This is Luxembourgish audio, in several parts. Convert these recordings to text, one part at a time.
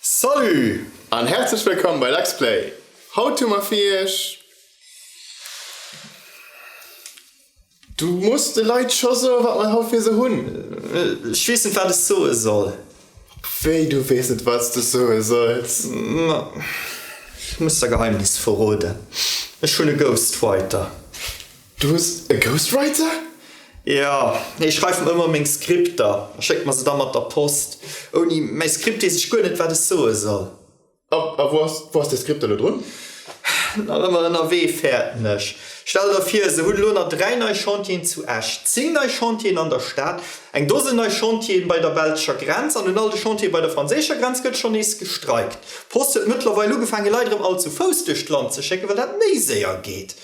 Salut an herzlech wëllkomm bei Lexplay! Haut hu mer fir iech. Du muss de Leit scho soen wat mer haut fir se hunn. Ech weess net wat ech soe soll. Wéi du weess net wat s du soe solls? Ma ech muss der Geheimnis verroden, ech hunn e Ghostwriter. Du hues e Ghostwriter? Jo, hie schreift mer ëmmer meng Skripter a schéckt mer se da mat der Post. Ouni mäi Skript weess ech guer net, wat ech soe soll. A wou ass däi Skript elo drun? Nach ëmmer ënnerwee, fäerten ech. Stell der vir, se hunn elo nach dräi nei Chantieren zu Esch, zéng nei Chantieren an der Stad, eng Dosen nei Chantieren bei der belscher Grenz an un all de Chantiere bei der franséischer Grenz gëtt schonn nees gestreikt. D'Post huet mëttlerweil ugefaangen, Leit erëm all zu Fouss duerch d'Land ze schécken, well dat méi séier geet.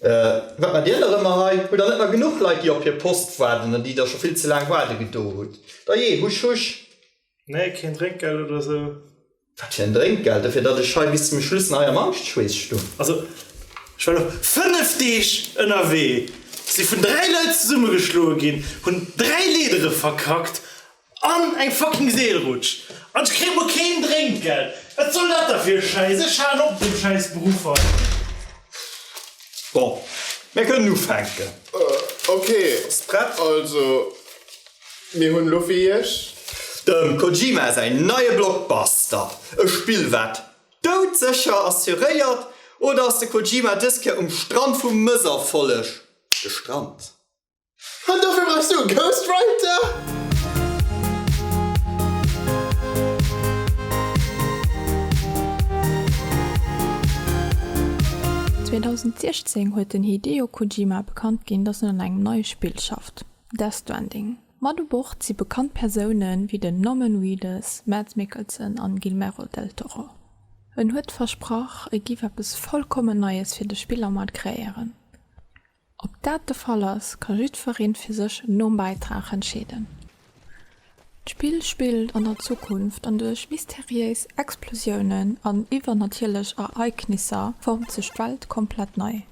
Wat macht Dir nach ëmmer hei? Hutt Der net nach genuch Leit, déi op hir Post waarden an déi Der scho vill ze laang waarde gedo hutt? Dajee, husch, husch! Nee, keen Drénkgeld oder esou. Wat fir en Drénkgeld? Dofir, datt ech hei bis zum Schluss nach hei am Angschtschweess stoung. Also, ech war lo fënnef Deeg ënnerwee, si vun dräi Leit zesummegeschloe ginn, hunn dräi Leedere verkackt An eng fucking Seelrutsch! An ech kréien mol keen Drénkgeld! Wat soll dat da fir e Schäiss? Ech halen op mat deem schäiss Beruff hei! Bon, mir kënnen ufänken. Ok, Sprett, also mir hunn elo fir Iech. Dem Kojima säi neie Blockbuster. E Spill, wat doudsécher assuréiert? Oder ass de Kojima dës Kéier um Strand vu Mësserfolleg gestrant? An dofir brauchs du e Ghostwriter? Zweetausendsechzéng huet den Hideo Kojima bekannt ginn, dass en un engem neie Spill schafft, Death Stranding. Mat u Bord si bekannt Persoune wéi den Norman Reedus, Mads Mikkelsen an Guilmerol del Toro. En huet versprach, e giff eppes vollkommen Neies fir de Spillermaart kreéieren. Ob dat de Fall ass, ka jiddweree fir sech nom Bäitrag entscheeden. D'Spill spillt an der Zukunft an duerch mysteriéis Explosiounen an iwwernatierlech Ereignisser formt sech d'Welt komplett nei.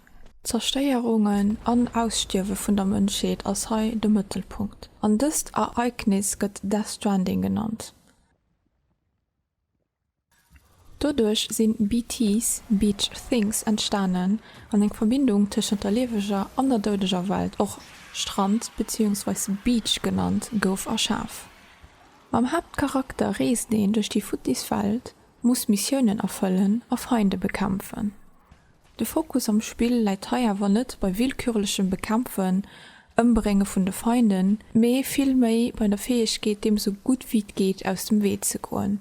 Zerstéierungen an Ausstierwe vun der Mënschheet ass hei de Mëttelpunkt, an dëst Ereignis gëtt Death Stranding genannt. Doduerch sinn BTs, Beach Things, entstanen an eng Verbindung tëschent der lieweger an der doudeger Welt, och Strand beziehungsweis Beach genannt, gouf erschaf. Mam Haaptcharakter reest een duerch déi futtis Welt, muss Missiounen erfëllen a Feinde bekämpfen. De Fokus am Spill läit hei awer net bei willkürlechem Bekämpfen, Ëmbrénge vun de Feinden, mee vill méi bei der Fäegkeet deem sou gutt wéi et geet aus dem Wee ze goen.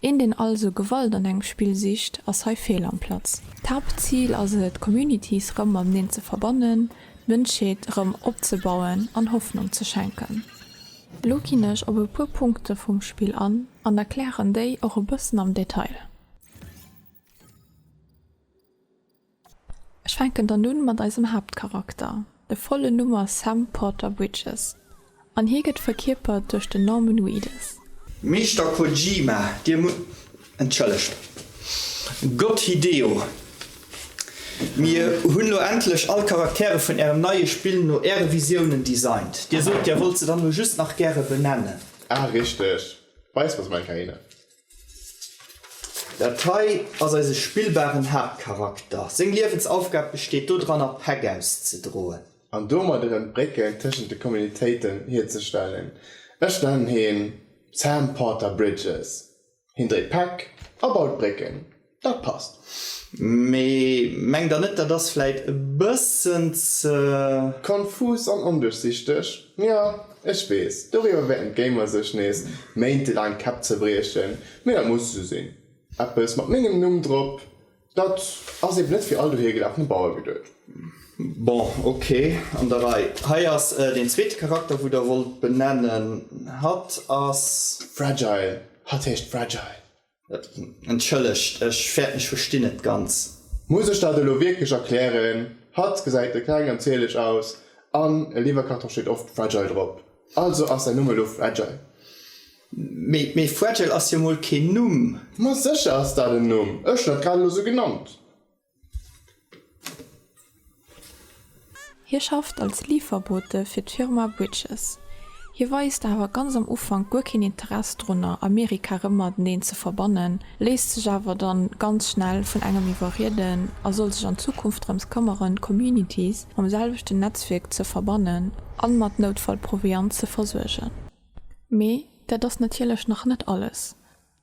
Een deen also Gewalt an engem Spill sicht ass hei fehl am Platz. D'Haaptzil ass et d'Communities rëm mateneen ze verbannen, d'Mënschheet erëm opzebauen an Hoffnung ze schenken. Elo ginn ech op e puer Punkte vum Spill an an erklären déi och e bëssen am Detail. Ech fänken dann un mat eisem Haaptcharakter. De vollen Numm ass Sam Porter Bridges an hie gëtt verkierpert duerch den Norman Reedus. Meeschter Kojima, Dir musst entschëllegt. Gott Hideo, Mir hunn lo endlech all Charaktere vun Ärem neie Spill no Äre Visiounen designt. Dir sot, Dir wollt se dann lo just nach gäre benennen. Ah, richteg. Weis, was mein Keine. Dat hei ass eise spillbaren Haaptcharakter. Seng Liewensaufgab besteet dodranner, Päck auszedroen. An domat erëm d'Brécken tëschent de Communitéiten hierzestellen. Ech nennen hien Sam Porter Bridges. Hien dréit Päck a baut Brécken. Dat passt, mee mengt der net dat ass vläit e bëssen ze. Konfus an onduerchsichteg? Jo, ech weess, doriwwer wäerten d'Gamer sech nees méintelaang d'Käpp zerbriechen, mee dat muss esou sinn. Eppes mat mengem Numm drop, dat ass eben net fir all dohigelafene Bauer geduet. Bon, okay, an der Rei. Hei ass deen zweete Charakter, wou der wollt benennen. Hatt ass. Fragile, hatt heescht Fragile. Entschëllegt, ech fäerten-ech verstinn et ganz. Muss ech dat elo wierklech erklären? Hatt gesäit de kleng an zierlech aus an e Liwwerkarton steet oft Fragile drop. Also ass säin Numm elo Fragile. Mee Fragile ass jo mol keen Numm. Ma sécher ass dat en Numm, ech hunn dat grad elo sou genannt. Hie schafft als Liiferbote fir d'Firma Bridges. Hie weist awer ganz am Ufank guer keen Interess drunner, Amerika rëm mateneen ze verbannen, léisst sech awer da ganz schnell vun engem iwwerrieden a soll sech an Zukunft drëms këmmeren, d'Communities mam selwechten Netzwierk ze verbannen a mat Noutfallproviant ze versuergen. Mee dat ass natierlech nach net alles.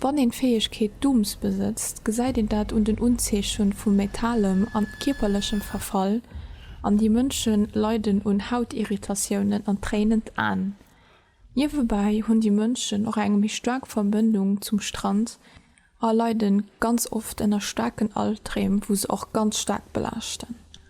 Wann een d'Fäegkeet Doms besëtzt, gesäit een dat un den Unzeechen vu metalem an kierperlechem Verfall, an déi Mënschen leiden un Hautirritatiounen an tréinen d'Aen. Niewebäi hunn déi Mënschen och eng méi staark Verbëndung zum Strand a leiden ganz oft ënner staarken Alpdreem, wou se och ganz staark belaaschten.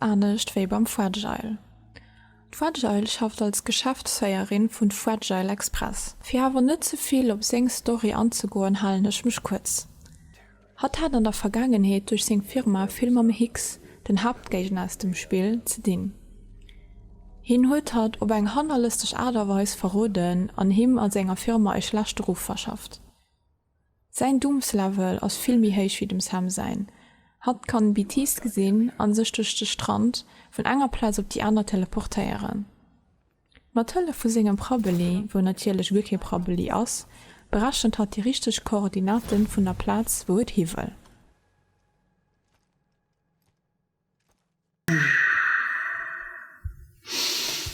Anescht wéi beim Fragile. D'Fragile schafft als Geschäftsféierin vun Fragile Express. Fir awer net ze vill op seng Story anzegoen halen ech mech kuerz. Hatt hat an der Vergaangenheet duerch seng Firma vill mam Hicks, den Haaptgéigner aus dem Spill, ze dinn. Hien huet hatt op eng hannerlësteg Aart a Weis verroden an him a senger Firma e schlechte Ruff verschafft. Säin Doomslevel ass vill méi héich wéi dem Sam säin. Hatt kann Bitiist gesinn a sech duerch de Strand vun enger Plaz op déi aner teleportéieren. Mat Hëllef vu sengem Prabbeli, wou natierlech guer kee Prabbeli ass, berechent hatt déi richteg Koordinate vun der Plaz, wou et hiwëll.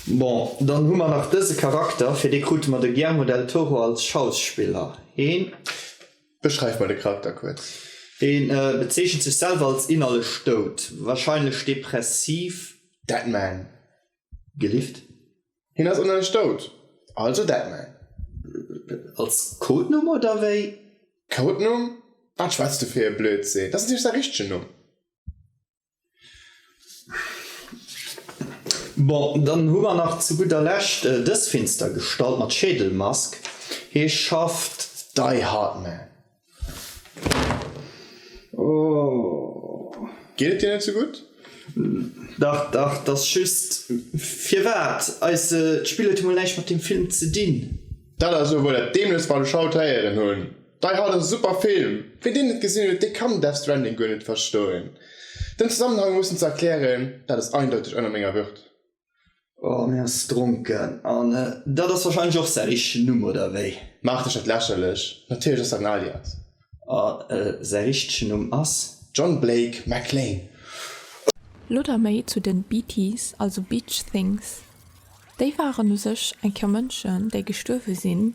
Bon, dann hu mer nach dëse Charakter, fir dee krute mer de Guillermo del Toro als Schauspiller hin. Beschreif mol de Charakter kuerz. Dee bezeechent sech selwer als innerlech dout, warscheinlech depressiv. Deadman. Gelift. Hien ass ënnerlech dout, also Deadman. Als Codenumm oder wéi? Codenumm? Wat schwätz du fir e Blödsinn, dat ass natierlech säi richtegen Numm. Bon, dann hu mer nach zu gudder Lescht äh, dës finster Gestalt mat Schädelmask. Hie schafft dei Hardman. Oh. Geet et dir net sou gutt? Dach, dach, t'ass just. Firwat? Eise, d'Spill huet emol näischt mat deem Film ze dinn. Dat ass elo wuel dat Dämlechst, wat ech haut héieren hunn. Dei hat en super Film! Ween deen net gesinn huet, dee kann Death Stranding guer net verstoen. Den Zesammenhang mussen ze erklären, dat ass eindeuteg ënner menger Würd. Oh mir ass dronken an dat ass wahrscheinlech och säi richtegen Numm oder wéi? Maach dech net lächerlech, natierlech ass dat en Alias. A säi richtegen Numm ass? John Blake McLean. Lo da méi zu den Beaties, also Beach Things. Déi waren u sech eng Kéier Mënschen, déi gestuerwe sinn.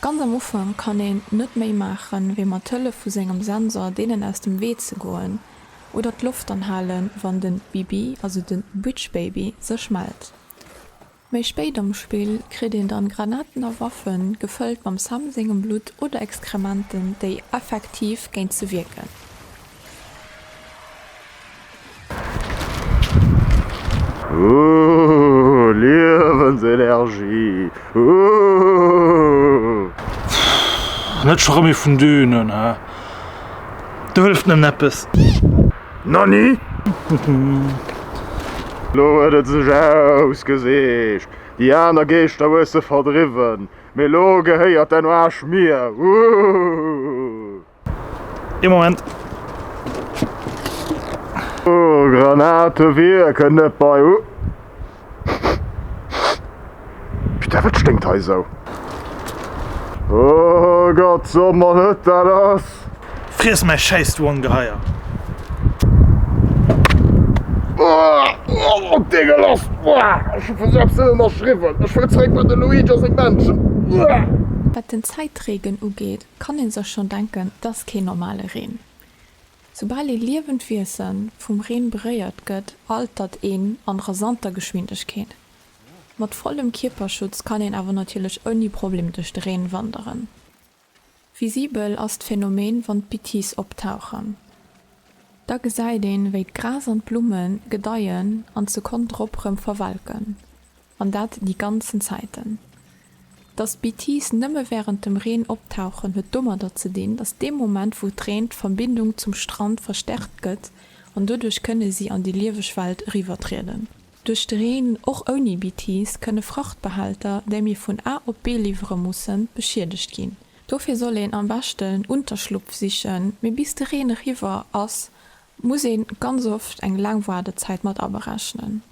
Ganz am Ufank kann een net méi maachen, wéi mat Hëllef vu sengem Sensor deenen aus dem Wee ze goen oder d'Loft anhalen, wann den Bibi, also den Witch Baby, sech mellt. Méi spéit am Spill kritt een dann Granaten a Waffen, gefëllt mam Sam sengem Blutt oder Exkrementen, déi effektiv géint se wierken. Ooh Liewensenergie ooh. Pff net schon rem ee vun denen he, do hëlleft net eppes. Nonni? Lo huet et sech ausgeseecht, déi aner Geeschter hues de verdriwwen, mee lo gehéiert den Aarsch mir ooh. Ee Moment. Oh, Granate wierken net bei u. Putain, wat sténkt hei esou? Oh Gott, so mer net, dat ass. Friess mäi schäiss, du Ongeheier! Oh, deegeloss! Ech hu vun selbst net ënnerschriwwen. Ech wëll zeréck bei de Luigi a seng Menschen. Wat den Zäitreegen ugeet, kann ee sech schonn denken, et ass keen normale Reen. Soubal ee liewend Wiesen vum Reen beréiert gëtt, altert een a rasanter Geschwindegkeet. Mat vollem Kierperschutz kann een awer natierlech ouni Problem duerch de Reen wanderen. Visibel ass d'Phänomen, wann d'Bitties optauchen. Da gesäit een, wéi d'Gras an d'Blumme gedeien an d'Sekonn drop rëm verwelken. an dat déi ganzen Zäiten. Datt d'BTIs nëmme wärend dem Reen optauchen, huet domadder ze dinn, datt dee Moment wou et reent, d'Verbindung zum Strand verstärkt gëtt an doduerch kënne si an déi lieweg Welt eriwwertrieden. Duerch de Reen, och ouni BTIs, kënne Frachtbehälter, déi mir vun A op B liwwere mussen, beschiedegt ginn. Dofir soll een am beschten Unterschlupf sichen, mee bis de Reen eriwwer ass, muss ee ganz oft eng laang Waardezäit mat aberechnen.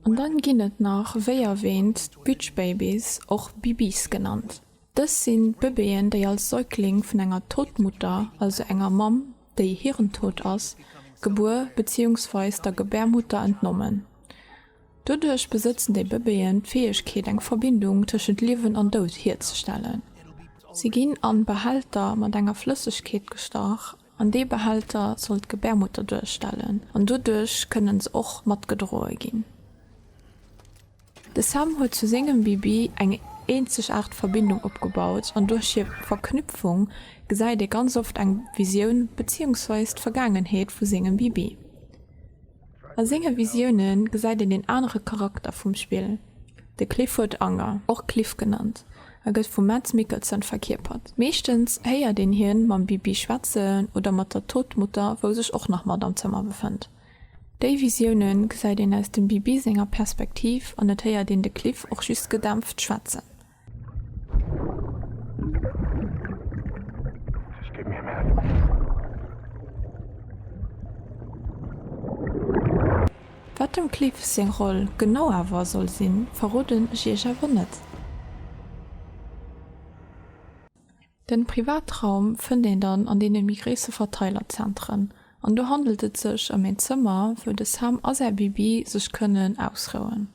An dann ginn et nach, wéi erwähnt, d'Beach Babies, och Bibis genannt. Dës sinn d'Bëbeeën, déi als Säugling vun enger Totmutter, also enger Mamm, déi hirntot ass, gebuer beziehungsweis der Gebärmutter entnommen. Doduerch besëtzen déi Bëbeeën d'Fäegkeet, eng Verbindung tëschent Liewen an Doud hierzestellen. Si ginn an Behälter mat enger Flëssegkeet gestach An dee Behälter soll d'Gebärmutter duerstellen an doduerch kënne se och matgedroe ginn. De Sam huet zu sengem Bibi eng eenzegaart Verbindung opgebaut an duerch hir Verknüpfung gesäit ee ganz oft eng Visioun beziehungsweis d'Vergaangenheet vu sengem Bibi. A senge Visioune gesäit een een anere Charakter vum Spill, de Clifford Anger, och Cliff genannt, a gëtt vum Mads Mikkelsen verkierpert. Meeschtens héiert een hien mam Bibi schwätzen oder mat der Todmutter, wou sech och nach mat am Zëmmer befënnt. Déi Visioune gesäit een aus dem Bibi senger Perspektiv an et héiert een de Cliff och just gedämpft schwätzen. Wat dem Cliff seng Roll genau awer soll sinn, verroden ech iech awer net. Den Privatraum fënnt een dann an deenen méi gréisse Verteilerzentren, an do handelt et sech ëm een Zëmmer wou de Sam a säi Bibi sech kënnen ausrouen.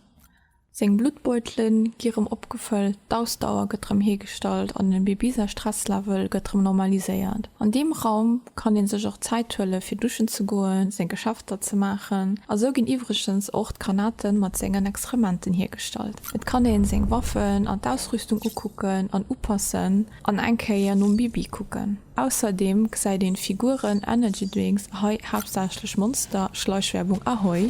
Seng Bluttbeutele gi rëm opgefëllt, d'Ausdauer gëtt rëm hiergestallt an de Baby säi Stresslevel gëtt rëm normaliséiert. An deem Raum kann ee sech och Zäit huele fir duschen ze goen, seng Geschäfter ze maachen. A sou ginn iwwregens och d'Granate mat sengen Exkrementen hiergestallt. Et kann ee seng Waffen an d'Ausrüstung ukucken an upassen an eng Kéier nom Baby kucken. Ausserdeem gesäit een Figuren, Energy Drinks a hei haaptsächlech Monster, Schleichwerbung, Ahoi!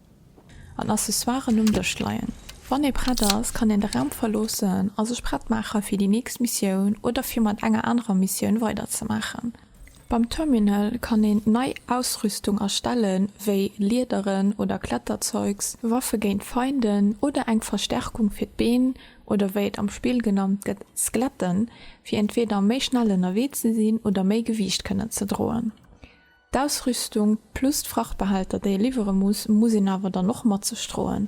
an Accessoiren um Dësch leien. Wann ee prett ass, kann een de Raum verloossen a sech prett maache fir déi nächst Missioun oder fir mat enger anerer Missioun weider ze maachen. Beim Terminal kann een nei Ausrüstung erstellen, wéi Liederen oder Kletterzeugs, Waffe géint Feinden oder eng Verstärkung fir d'Been, oder wéi et am Spill genannt gëtt, Skeletten, fir entweeder méi schnell ënnerwee ze sinn oder méi Gewiicht kënnen ze droen. D'Ausrüstung plus d'Frachtbehälter déi ee liwwere muss, muss een awer dann och mat sech droen.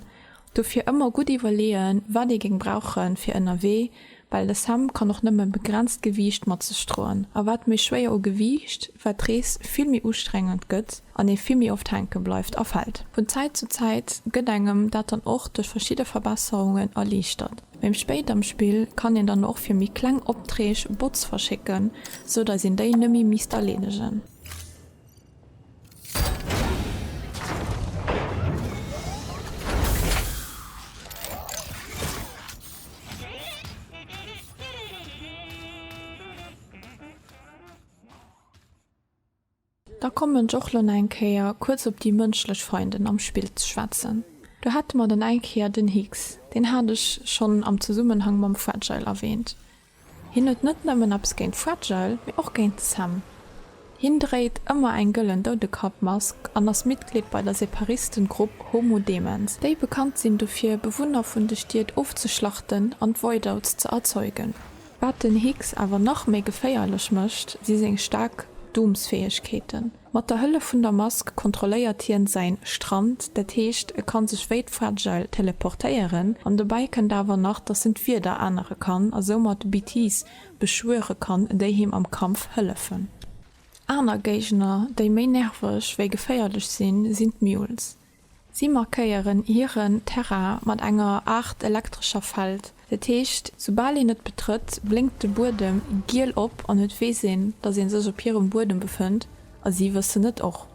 Dofir ëmmer gutt iwwerleeën wat ee géng brauche fir ënnerwee, well de Sam kann och nëmme begrenzt Gewiicht mat sech droen a wat méi schwéier u Gewiicht, wat d'Rees vill méi ustrengend gëtt an ee vill méi oft hänke bleift a fält. Vun Zäit zu Zäit gëtt engem dat dann och duerch verschidde Verbesserungen erliichtert. Méi spéit am Spill kann een dann och fir méi kleng Optreeg Bots verschécken, sou dass een déi nëmme misst erleedegen. Da kommen ech och lo nach eng Kéier kuerz op déi mënschlech Feinden am Spill ze schwätzen. Do hate mer dann eng Kéier den Hicks, deen hat ech schonn am Zesummenhang mam Fragile erwähnt. Hien huet net nëmmen eppes géint Fragile, mee och géint Sam. Hien dréit ëmmer eng gëllen Doudekappmask an ass Mitglied bei der Separistengrupp Homo Demens, déi bekannt sinn dofir, Bewunner vun de Stied ofzeschlachten an d'Voidouts ze erzeugen. Wat den Higgs awer nach méi geféierlech mécht, si seng staark Doomsfäegkeeten. Mat der Hëllef vun der Mask kontrolléiert hien säin Strand, dat heescht e kann sech wéi d'Fragile teleportéieren an dobäi kënnt awer nach dass en d'Wieder ännere kann a soumat d'BTs beschwuere kann déi him am Kampf hëllefen. Aner Géigner déi méi nerveg wéi geféierlech sinn, sinn d'Mules. Si markéieren hiren Terrain mat enger Aart elektrescher Feld. Dat heescht, soubal een et betrëtt, blénkt de Buedem giel op an et weess een, datt ee sech op hirem Buedem befënnt a si wëssen et och.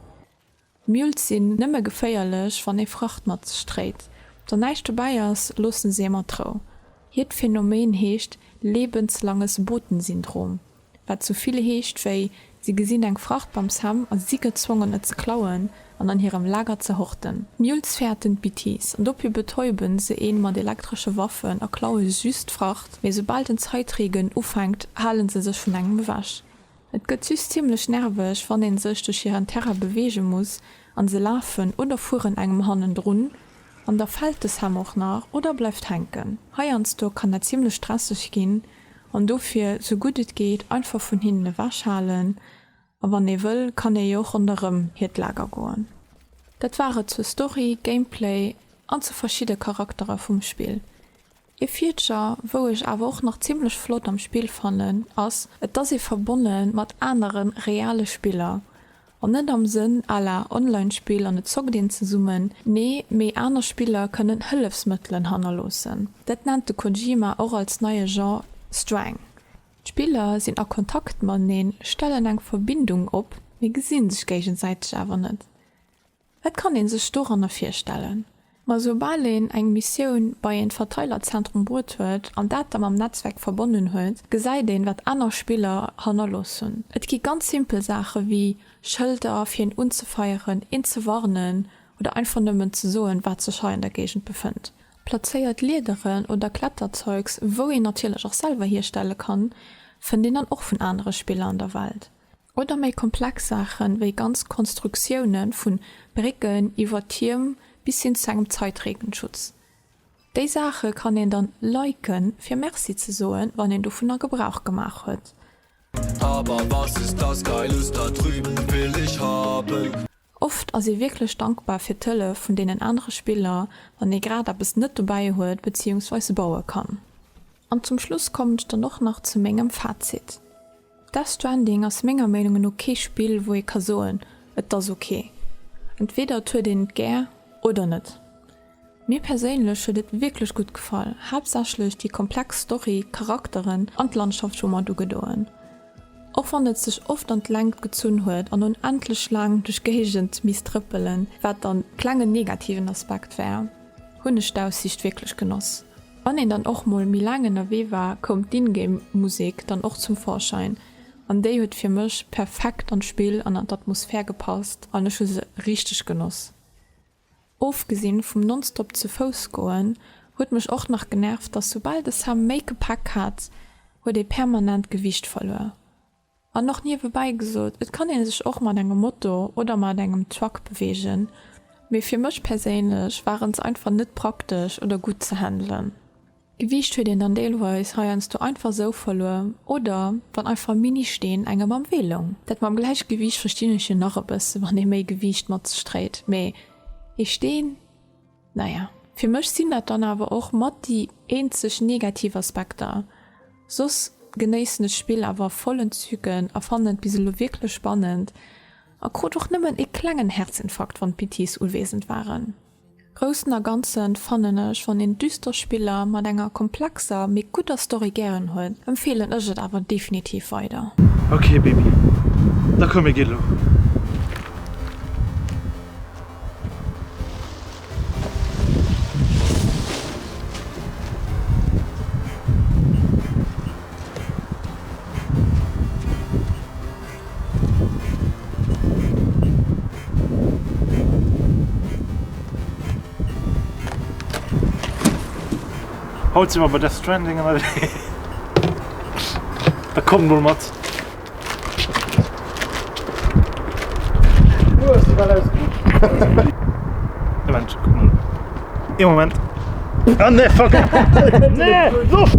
Mules sinn nëmme geféierlech, wann ee Fracht mat sech dréit. Wann näischt dobäi ass, loosse se ee mat Rou. Hiert Phenomen heescht lebenslanges Botensyndrom. Wat sou vill heescht wéi, Si gesinn eng Fracht beim Sam a si gezwongen et ze klauen an an hirem Lager ze horten. D'Mules fäerten d'Bitiss an dopir betäuben se een mat elektresche Waffen a klaue süss d'Fracht, mee soubal den Zäitregen ufänkt halen se sech vun engem ewech. Et gëtt süss zimmlech nerveg wann een sech duerch hiren Terrain beweege muss an se lafen oder fueren engem hannendrun an da fält de Sam och nach oder bleift hänken. Heiansdo kann dat zimmlech stresseg ginn, An dofir sou gutt et geet einfach vun hinnen ewech halen. A wann ee wëll, kann ee jo och ronderëm hiert Lager goen. Dat war et zur Story, Gameplay an zu verschidde Charaktere vum Spill. Ee Feature wou ech awer och nach zimmlech flott am Spill fannen ass, et ass ee verbonne mat anere reale Spiller. An net am Sënn à la Online-Spill an et zockt een zesummen, nee, mee aner Spiller kënnen Hëllefsmëttelen hannerloossen. Dat nennt de Kojima och als neie Genre Strang. D'Spiller sinn a Kontakt mateneen, stellen eng Verbindung op, mee gesi sech géigesäiteg awer net. Et kann een sech doranner virstellen. Ma soubal een eng Missioun bei een Verteilerzentrum bruet huet an dat da mam Netzwerk verbonnen huet, gesäit een wat aner Spiller hannerlooss hunn. Et gi ganz simpel Saache wéi Schëlder fir een unzefeieren, een ze warnen oder einfach nëmmen ze soen wat sech hei an der Géigend befënnt. Plazéiert Leaderen oder Kletterzeugs, wou een natierlech och selwer hierstelle kann, fënnt een dann och vun anere Spiller an der Welt. Oder méi komplex Saachen, wéi ganz Konstruktiounen, vun Brécken iwwer Tierm bis hin zu engem Zeitregenschutz. Déi Saache kann een dann liken fir Merci ze soen, wann een dovunner Gebrauch gemaach huet. Oft ass ee wierklech dankbar fir d'Hëllef vun deenen anere Spiller, wann ee grad eppes net dobäi huet beziehungsweis baue kann. An zum Schluss kommen ech dann och nach zu mengem Fazit. Death Stranding ass menger Meinunge no kee Spill, wou ee ka soen, Et ass ok. Entweder et huet een et gär oder net. Mir perséinlech huet et wierklech gutt gefall, haaptsächlech déi komplex Story, d'Charakteren an d'Landschaft hu mer ugedoen, och wann et sech oft an d'Längt gezunn huet an un endlech laang duerch Géigend misst trëppelen, wat dann e klengen negativen Aspekt war, hunn ech d'Aussiicht wierklech genoss. Wann een dann och mol méi laang ënnerwee war, koum d'In-Game Musek dann och zum Vorschein an déi huet fir mech perfekt an d'Spill an an d'Atmosphär gepasst an ech hu se richteg genoss. Ofgesinn vum nonstop ze Fouss goen, huet mech och nach genervt, dass soubal de Sam méi Gepäck hat, huet ee permanent Gewiicht verluer. An och niewebäi gesot, et kann ee sech och mat engem Moto oder mat engem Truck beweegen, mee fir mech perséinlech waren se einfach net praktesch oder gutt ze handelen. Gewiicht huet een dann deelweis heiansdo einfach sou verluer oder wann einfach Ministeen engem am Wee loung. Dat mam Gläichgewiicht verstinn ech jo nach e bësse wann ee méi Gewiicht mat sech dréit, mee ee Steen, naja. Fir mech sinn dat dann awer och mat déi eenzeg negativ Aspekter. Soss genéissen ech d'Spill awer vollen Zügen a fannen et bis elo wierklech spannend a krut och nëmmen e klengen Herzinfarkt wann d'Pitties uwesend waren. Groussen a Ganzen fannen ech, wann een düster Spiller mat enger komplexer mee gudder Story gären huet, empfeelen ech et awer definitiv weider. Ok Baby, da komm mir gi lo. Haut si mer bei Death Stranding ënnerwee. Da komm mol mat! Ee Moment. Ah nee, fuck! Nee! Loft!